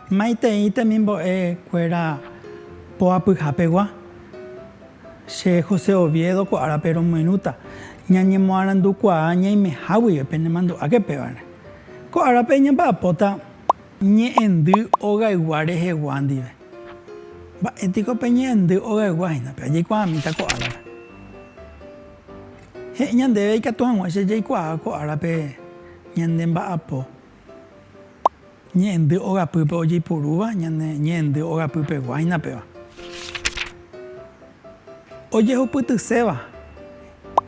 Maitei temimbo'e kuéra poapyha pegua. Che José Oviedo ko árape romoirũta, ñañemoarandu kuaa ñaimeháguive penemandu'áke pévare. Ko árape ñamba'apóta ñe'ẽndy ogaygua rehegua ndive. Mba'e piko pe ñe'ẽndy ogaygua hína péva? Jaikuaamíta ko árape. He'i ñandéve ikatu hag̃ua che jaikuaa ko árape ñande mba'apo ñe'ẽndy ogapýpe ojeipurúva ñande ñe'ẽndy ogapy pegua hína péva. Ojehupytyséva,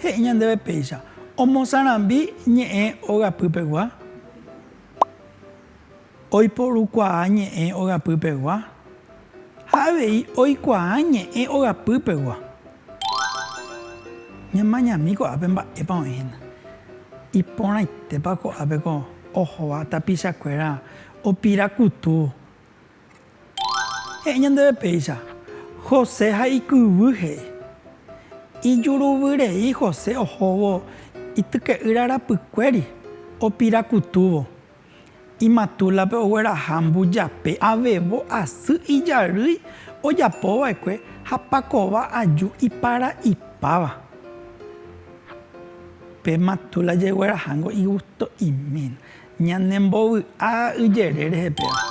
he'i ñandéve péicha, omosarambi ñe'ẽ ogapýpegua, oiporukuaa ñe'ẽ ogapýpegua ha avei oikuaa ñe'ẽ ogapýpegua. Ñamañami ko'ápe mba'épa oĩ hína. Iporãitépa ko'ápe ko ohóva tapichakuéra opira kutu. He'i ñandéve péicha, José ha ikyvy he'i. Ijuruvyrei José ohóvo ityke'ýra rapykuéri, opirakutúvo. Imatúlape ogueraha mbujape avevo asy ijarýi ojapova'ekue ha pakova aju iparaipáva. Pe matúla jeguerahángo igusto'imína. Ñanembovy'a yjere rehe péva.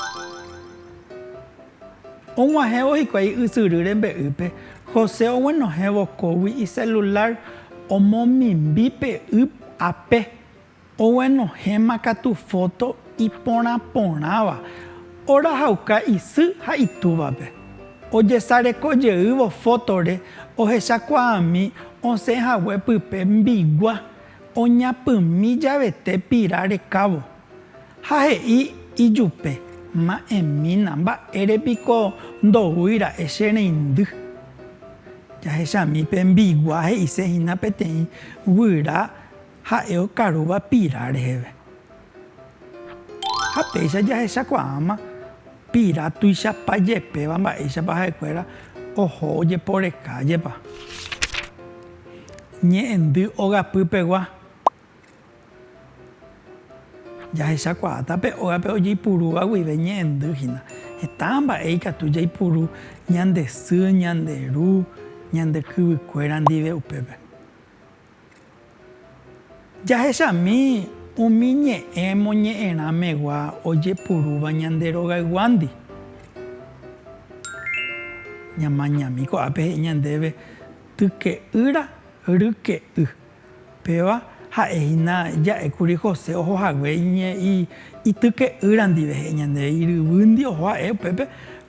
Og̃uahẽvo hikuái ysyry rembe'ýpe, José oguenohẽ vokógui iselulár omomimbi pe y ape. Oguenohẽma katu fóto iporã porãva, orahauka isy ha itúvape. Ojesareko jeývo fótore ohechakuaami osẽ hague pype mbigua. Oñapymi javete Pira rekávo ha he'i ijupe, Ma'ẽmína, mba'ére piko ndoúi ra'e che reindy. Jahechami pe mbigua he'ise hína peteĩ guyra ha'e okarúva Pira reheve. Ha péicha jahechakuaáma pira tuichapa jepéva mba'éichapa ha'ekuéra oho ojeporekájepa ñe'ẽndy ogapýpegua, jahechakuaáta pe ógape ojeipurúva guive ñe'ẽndy hína. Heta mba'e ikatu jaipuru ñande sy, ñande ru, ñande kyvykuéra ndive upépe. Jahechami umi ñe'ẽ moñe'ẽrã megua ojepurúva ñande rogayguándi. Ñamañami ko'ápe he'i ñandéve tyke'ýra ryke'y. Péva ha'e hína ja'e kuri José oho hague ityke'ýra ndive, he'i ñandéve iryvýndi oho ha'e upépe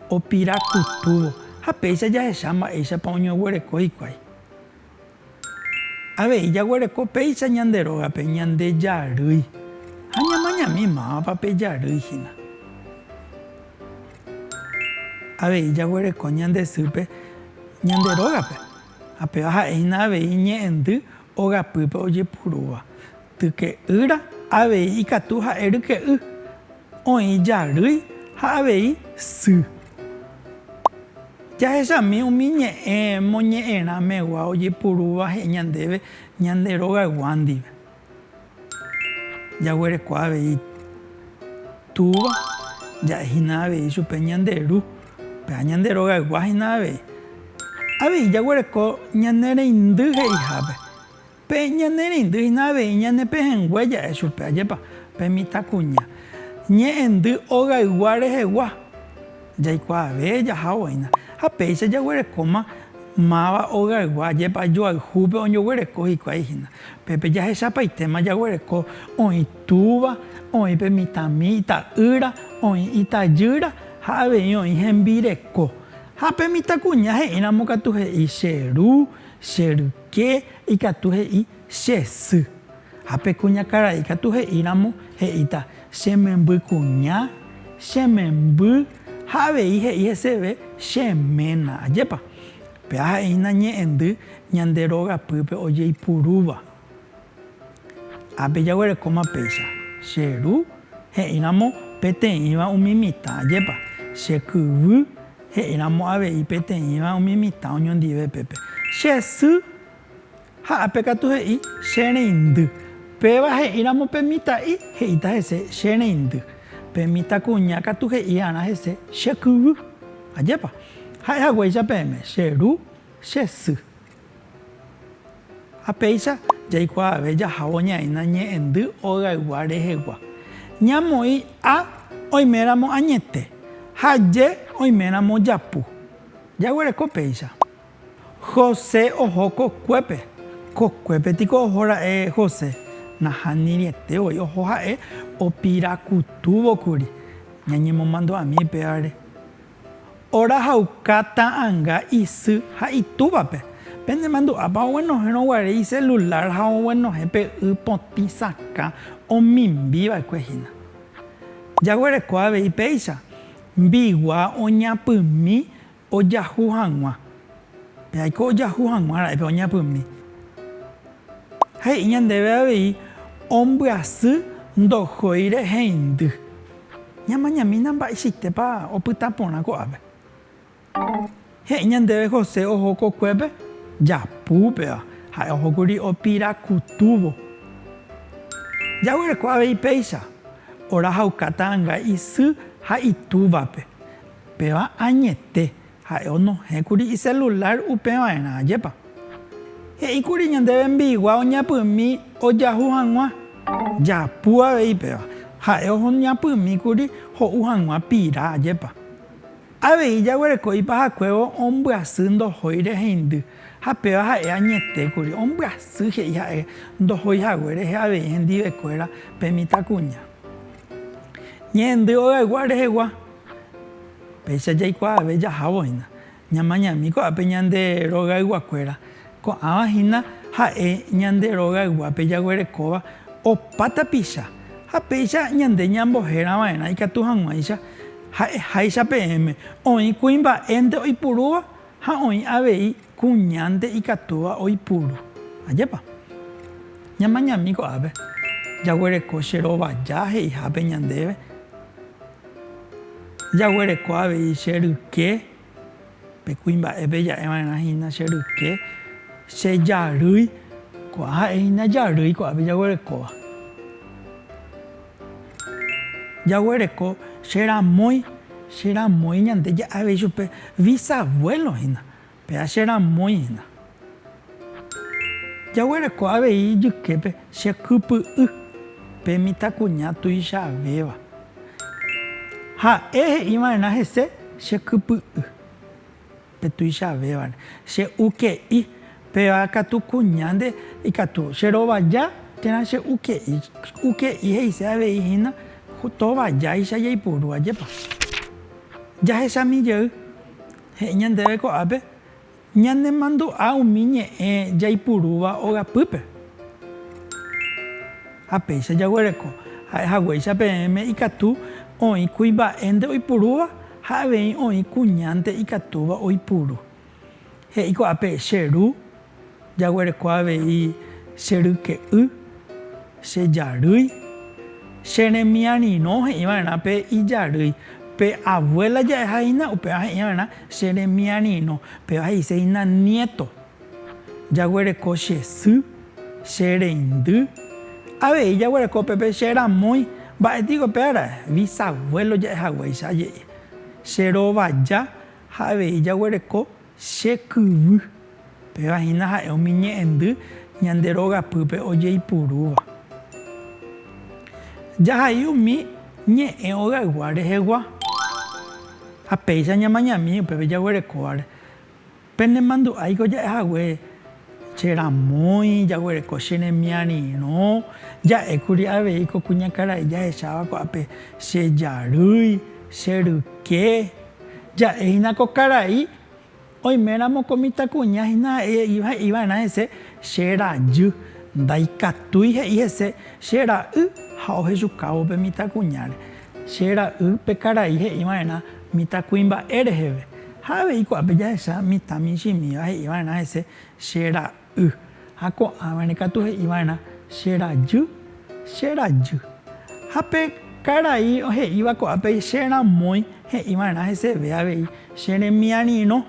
opira kutúvo. Ha péicha jahecha mba'éichapa oñoguereko hikuái. Avei jaguereko péicha ñande rógape ñande jarýi ha ñamañami mávapa pe jarýi hína. Avei jaguereko ñande sýpe ñande rógape, ha péva ha'e hína avei ñe'ẽndy ogapýpe ojepurúva. Tyke'ýra avei ikatu ha'e ryke'y, oĩ jarýi ha avei sy. Jahechami umi ñe'ẽ moñe'ẽrã megua ojeipurúva he'i ñandéve ñande rogaygua ndive. Jaguereko avei Túva, ja'e hína avei chupe ñande Ru, pe ha ñande rogaygua hína avei. Avei jaguereko ñane reindy he'ihápe. Pe ñanerendy hína avei ñanepehẽngue ja'e chupe, ajépa, pe mitãkuña, ñe'ẽndy ogaygua rehegua, jaikuaave jaha oĩna, ha péicha jaguerekóma máva ogaygua, ajépa, joayhúpe oñoguereko hikuái hína. Pépe jahechapaitéma jaguereko oĩ túva, oĩ pe mitãmi ita'ýra, oĩ itajýra ha avei oĩ hembireko. Ha pe mitãkuña he'íramo katu he'i che ru, che ry. Che ikatu he'i che sy, ha pe kuñakarai ikatu he'íramo he'íta che memby kuña, che memby, ha avei he'i heseve che ména. Ajépa! Pe aha'eína ñe'ẽndy ñande rogapýpe ojeipurúva. Ha pejaguerekóma péicha, che ru he'íramo peteĩva umi mitã ajépa, che kyvy he'íramo avei peteĩva umi mitã oñondive pépe. Che sy ha ápe katu he'i, che reindy. Péva he'íramo pe mitã'i, he'íta hese, che reindy. Pe mitãkuña katu he'iarã hese, che kyvy. Ajépa. Ha'e haguéicha peẽme, che ru, che sy. Ha péicha jaikuaave jahávo ñaína ñe'ẽndy ogaygua rehegua, ñamoĩ A oiméramo añete ha J oiméramo japu. Jaguereko péicha. José oho kokuépe. Kokuépe tiko oho ra'e José? Nahániriete voi oho ha'e, opirakutúvo kuri. Ñañemomandu'ami pévare. Orahauka ta'anga isy ha itúvape. Penemandu'ápa oguenohẽrõ guare iselulár ha oguenohẽ pe y potĩ sakã omimbi va'ekue hína? Jaguereko avei péicha mbigua oñapymi ojahu hag̃ua. Pe aiko ojahu hag̃ua ra'e pe oñapymi. He'i ñandéve avei ombyasy ndohói rehendy. Ñamañamína mba'eichaitépa opyta porã ko'ápe. He'i ñandéve José oho kokuépe japúpeva, ha'e ohókuri opira kutúvo. Jaguereko avei péicha, orahauka ta'ãnga isy ha itúvape. Péva añete, Ha'e onohẽkuri iselulár upeva'erã, ajépa. He'íkuri ñande vembiguá oñapymi ojahu hag̃ua. Japu avei péva. Ha'e oñapymíkuri ho'u hag̃ua pira, ajépa. Avei jaguereko ipahakuévo ombyasy ndohói reheindy, ha péva ha'e añetékuri, ombyasy he'i ha'e ndohói hague rehe avei hendivekuéra pe mitãkuña. Ñehendy ogaygua rehegua. Péicha jaikuaave jahávo hína, ñamañami ko'ápe ñande rogayguakuéra, ko'ãva hína ha'e ñande rogayguápe jaguerekóva opa tapicha, ha péicha ñande ñambohérava'erã ikatu hag̃uáicha ha'eháicha peẽme, oĩ kuimba'énte oipurúva ha oĩ avei kuñánte ikatúva oipuru. Ajépa? Ñamañami ko'ápe jaguereko che rovaja he'ihápe ñandéve. Jaguereko avei che ryke, pe kuimba'épe ja'e va'erã hína che ryke, che jarýi, ko'ã ha'e hína jarýi ko'ápe jaguerekóva. Jaguereko che ramói, che ramói ñande ja'e avei chupe visavuelo hína. Péa che ramói hína. Jaguereko avei ijyképe che kypy'y pe mitãkuña tuichavéva. Ha'e he'i va'erã hese che kypy'y pe tuichavévare, che uke'i, péva katu kuñánte ikatu che rovaja térã che uke'i. Uke'i he'ise avei hína tovajáicha jaipuru ajépa jahechami jey. he'i ñandéve ko'ápe ñanemandu'a umi ñe'ẽ jaipurúva ogapýpe. Ha péicha jaguereko ha'e haguéicha peẽme ikatu oĩ kuimba'énte oipurúva ha avei oĩ kuñánte ikatúva oipuru. He'i ko'ápe, Che Ru, Jaguereko avei che ryke'y, che jarýi, che remiarirõ he'i va'erã pe ijarýi, pe avuéla ja'eha hína upéva he'i va'erã che remiarirõ, péva he'ise hína niéto. Jaguereko che sy, che reindy, avei jaguereko upépe che ramói, mba'e piko pe árae, visavuélo ja'ehaguéicha aje'i, che rovaja ha avei jaguereko Che kyvy, péva hína ha'e umi ñe'ẽndy ñande rogapýpe ojeipurúva. Jahai umi ñe'ẽ ogaygua rehegua, ha péicha ñamañami upépe jaguerekóvare. Penemandu'áiko ja'e hague Che ramói jaguereko che remiarirõ, ja'ékuri avei ko kuñakarai jahecháva ko'ápe che jarýi, che ryke. Ja'e hína ko karai, oime ramo ko mitãkuña hína he'i va'erã hese che rajy, ndaikatúi he'i hese che ra'y ha ohejukávo pe mitãkuñáre. Che ra'y pe karai he'i va'erã mitãkuimba'e reheve. Ha avei ko'ápe jahecha mitã michĩmíva he'i va'erã hese che ra'y, ha ko'ãvare katu he'i va'erã che rajy, che rajy. Ha pe karai he'íva ko'ápe che ramói he'i va'erã heseve avei che remiarirõ,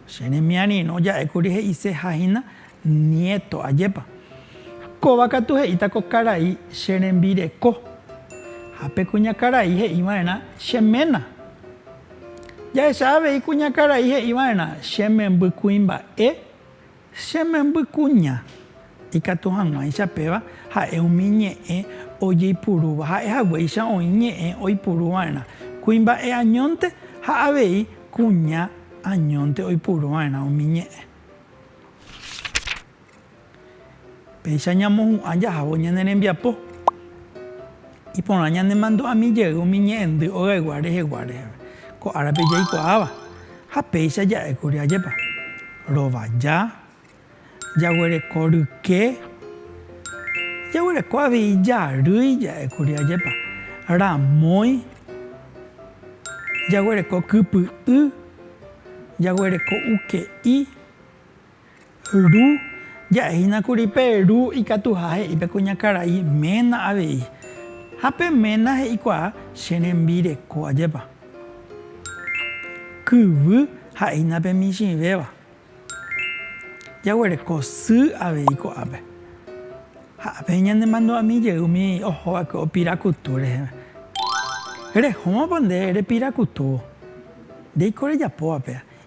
che remiarirõ ja'e kuri he'iseha hína niéto, ajépa. Kóva katu he'íta ko karai che rembireko. Ha pe kuñakarai he'i va'erã che ména. Jahecha avei kuñakarai he'i va'erã che memby kuimba'e, che memby kuña. Ikatu hag̃uáicha péva ha'e umi ñe'ẽ ojeipurúva, ha'e haguéicha oĩ ñe'ẽ oipuru va'erã kuimba'e añónte ha avei kuña añónte oipuru va'erã umi ñe'ẽ. Péicha ñamohu'ã jahávo ñane rembiapo, iporã ñanemandu'ami jey umi ñe'ẽndy ogaygua rehegua reheve, ko árape jaikuaáva, ha péicha ja'e kuri ajépa, rovaja, jaguereko ryke, jaguereko avei jarýi ja'e kuri ajépa, ramói, jaguereko kypy'y, jaguereko uke'i. Ru, Ja'ehína kuri pe Ru ikatuha he'i pe kuñakarai ména avei. Ha pe ména he'ikuaa che rembireko ajépa. Kyvy, Ha'ehína pe michĩvéva. Jaguereko sy avei ko'ápe. Ha ápe ñanemandu'ami jey umi oho va'ekue opirakutu reheve. Rehómapa nde repirakutúvo. Ndéiko rejapóva péa.